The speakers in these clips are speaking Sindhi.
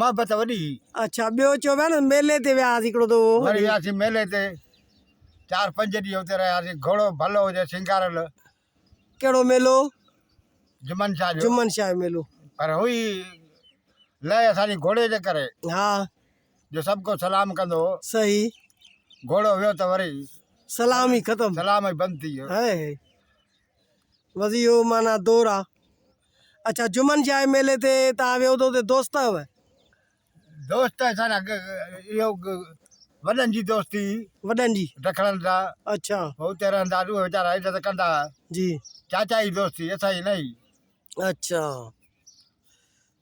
محبت وڏي هئي. اڇا ٻيو چئو پيا نه ميلي تي ويا هئاسين هڪڙو دفعو. وري وياسين ميلي تي چار پنج ڏينهن اتي رهياسين گهوڙو ڀلو هجي سينگاريل. ڪهڙو ميلو؟ جمن شاهه جو. جمن شاهه جو ميلو. پر هئي لئه اسان جي گهوڙي جي ڪري. ها. جو سڀ ڪو سلام ڪندو هو. صحيح. گهوڙو ويو ته وري. سلام ئي ختم. سلام ئي بند ٿي ويو. هائي هائي. وضيحو معنيٰ دور آ. اڇا جمن شاهي ميلي تي تان ويو تو اتي دوست هئه. دوست اسان جا اهو وڏن جي دوستي هئي. وڏن جي. ڊکڻن سان. اڇا. هو اتي رهندا اهي ويچارا هيڏ ته ڪندا هئا. جي. چاچا جي دوستي اسان جي نه هئي. اڇا.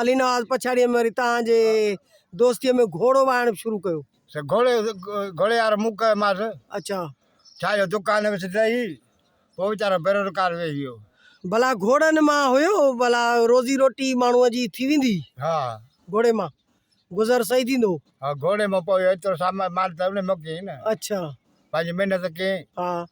علي نواز پڇاڙيء ۾ وري توهان جي دوستيء ۾ گهوڙو وهائڻ به شروع ڪيو. سي گهوڙي گهوڙي وارو مون ڪيومانس. اڇا. ڇا جو دڪان وچ تي ئي پوء ويچارو بيروزگار ويهي ويو. ڀلا گهوڙن مان هيو ڀلا روزي روٽي ماڻهوء جي ٿي ويندي. ها. گهوڙي مان گذر صحيح ٿيندو. ها گهوڙي مان پوء ايترو سامان مال ته ان مون ڪيئي نه. اڇا. پنهنجي محنت ڪيئي. ها.